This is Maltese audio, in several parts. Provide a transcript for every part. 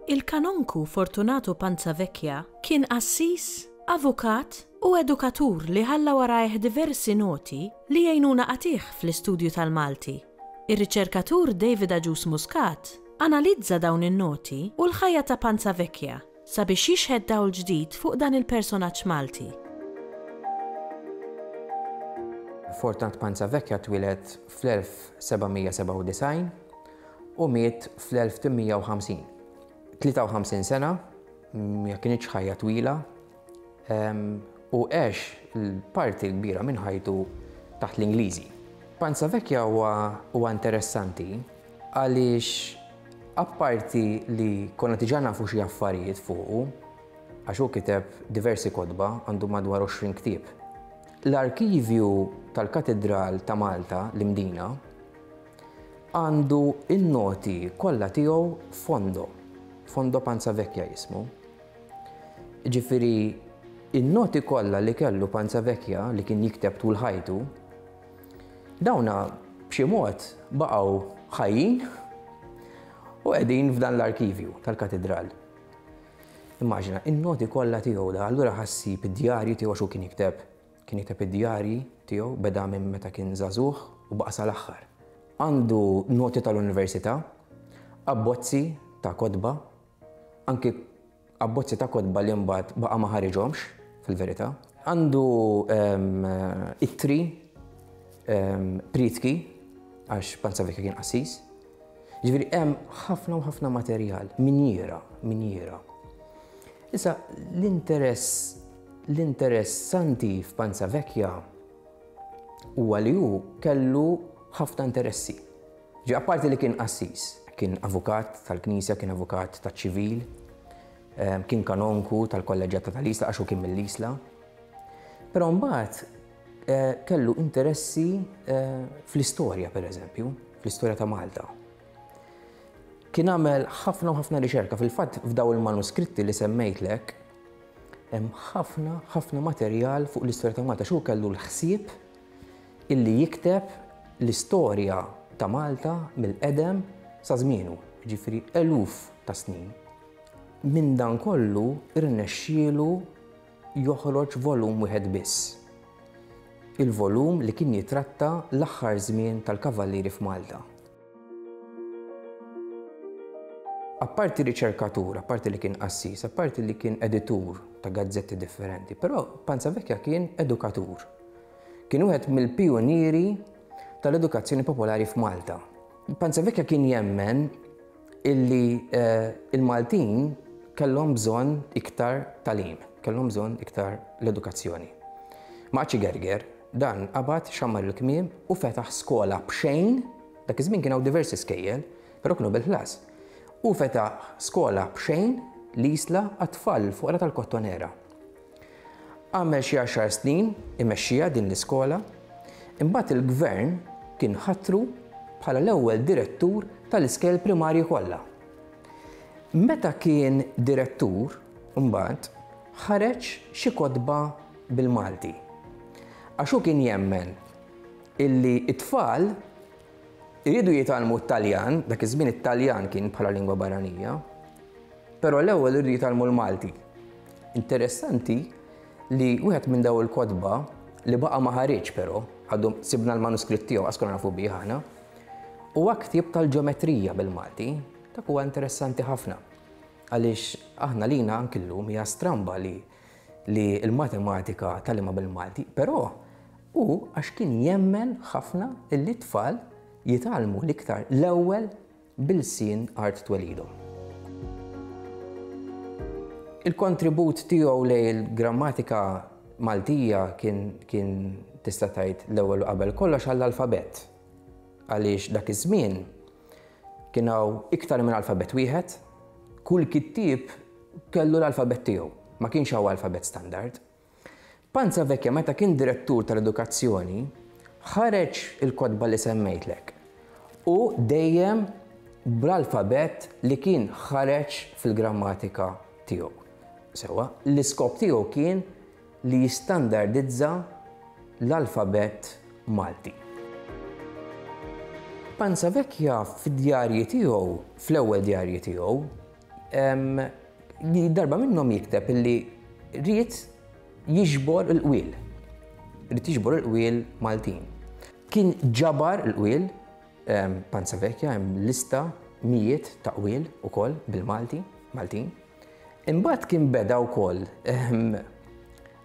Il-Kanonku Fortunato Panzavecchia kien qassis, avukat u edukatur li ħalla warajh diversi noti li jgħinuna qatigħ fl-istudju tal-Malti. Ir-riċerkatur David Agius Muscat analizza dawn in-noti u l-ħajja ta' Panza Vecchia sabiex jixħet dawl ġdid fuq dan il-personaġġ Malti. Fortunat Panza Vecchia twieled fl-1797 u miet fl-1850. 53 sena ma kinitx ħajja twila u għex l-parti l-kbira minn ħajtu taħt l-Ingliżi. Panza Vecchia huwa interessanti għaliex apparti li konna tiġa nafu xi affarijiet fuqu, għax hu kiteb diversi kodba għandu madwar 20 ktieb. L-arkivju tal-Katedral ta' Malta, l-Imdina, għandu in-noti kollha tiegħu fondo, fondo Panza Vecchia jismu. Jiġifieri n-noti kollha li kellu Panza Vecchia li kien jikteb tul ħajtu, dawna b'xi mod baqgħu ħajjin u qegħdin f'dan l-arkivju tal-Katidral. Immaġina, in-noti kollha tiegħu da, allura ħassib id-djarji tiegħu x'hu kien jikteb. Kien jikteb id-djarji tiegħu beda minn meta kien żagħżugħ u baqa' sal-aħħar. Għandu noti tal-università, abbozzi ta' kotba, Anki abbozzi ta' kotba li mbagħad baqa' ma ħariġhomx, fil-verità. Għandu ittri, prietki, għax Panzavecchio kien qassis. Ġifieri hemm ħafna u ħafna materjal, minjiera, minjiera. Issa l-interess l-interessanti f'Panzavecchia huwa li hu kellu ħafna interessi. Ġie apparti li kien qassis, kien avukat tal-Knisja, kien avukat taċ-ċivil, kien kanonku tal-kolleġġjata tal-Isla għax hu kien mill-Isla. Però mbagħad kellu interessi fl-istorja pereżempju, fl-istorja ta' Malta. Kien għamel ħafna u ħafna riċerka, fil-fatt f'daw il-manuskritti li semmejtlek, hemm ħafna ħafna materjal fuq l-istorja ta' Malta, x'hu kellu l-ħsieb illi jikteb l-istorja ta' Malta mill-qedem sa żmienu, jiġifieri eluf ta' snin. Minn dan kollu rnexxielu joħroġ volum wieħed biss. Il-volum li kien jitratta l-aħħar żmien tal-Kavallieri f'Malta. Apparti riċerkatur, apparti li kien qassis, apparti li kien editur ta' gazzetti differenti, però Panza Vecchia kien edukatur. Kien wieħed mill-pijunieri tal-edukazzjoni popolari f'Malta. Panza Vecchia kien jemmen illi eh, il-Maltin kellhom bżonn iktar talim, kellhom bżonn iktar l-edukazzjoni. Maċi Gerger, Dan qabad, xammar il-kmiem u fetaħ skola b'xejn, dak iż-żmien kien hawn diversi skejjel, però kienu bil-ħlas. Hu fetaħ skola b'xejn, l-Isla, għat-tfal il-foqra tal-Kottonera. Għamel xi għaxar snin imexxiha din l-iskola, imbagħad il-Gvern kien ħatru bħala l-ewwel direttur tal-iskejjel primarji kollha. Meta kien direttur, imbagħad, ħareġ xi kotba bil-Malti. Għax hu kien jemmen illi t-tfal iridu jitgħallmu t-Taljan, dak iż-żmien it-Taljan kien bħala lingwa barranija, però l-ewwel iridu jitgħallmu l-Malti. Interessanti li wieħed minn daw il-kotba li baqa' ma ħariġ però, għadu sibna l-manuskritt tiegħu għas konna nafu bih aħna, huwa ktieb tal-ġeometrija bil-Malti, dak huwa interessanti ħafna. Għaliex aħna lina ankillum hija stramba li li l-matematika tgħallimha bil-Malti, però hu għax kien jemmen ħafna li t-tfal jitgħallmu l-iktar l-ewwel bil-lsien art twelidhom. Il-kontribut tiegħu lejn il-grammatika Maltija kien tista' tgħid l-ewwel u qabel kollox għall-alfabett. Għaliex dak iż-żmien kien hawn iktar minn alfabett wieħed, kull kittieb Kellu l-alfabett tiegħu. Ma kienx hawn alfabett standard. Panza Vecchia meta kien direttur tal-edukazzjoni ħareġ il-kotba li semmejtlek u dejjem bl-alfabett li kien ħareġ fil-grammatika tiegħu. Sewwa, l-iskop tiegħu kien li jistandardizza l-alfabett Malti. Panza Vecchia fid-djarji tiegħu, fl-ewwel djarji tiegħu, Darba minnhom jikteb illi ried jiġbor il-qwiel. Ried jiġbor il-qwiel Maltin. Kien ġabar il-qwiel Panza Vekja hemm lista mijiet ta' qwiel ukoll bil-Malti, Maltin. Imbagħad kien beda wkoll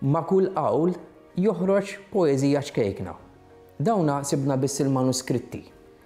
ma' kull qawl joħroġ poeżija ċkejkna. Dawna sibna biss il-manuskritti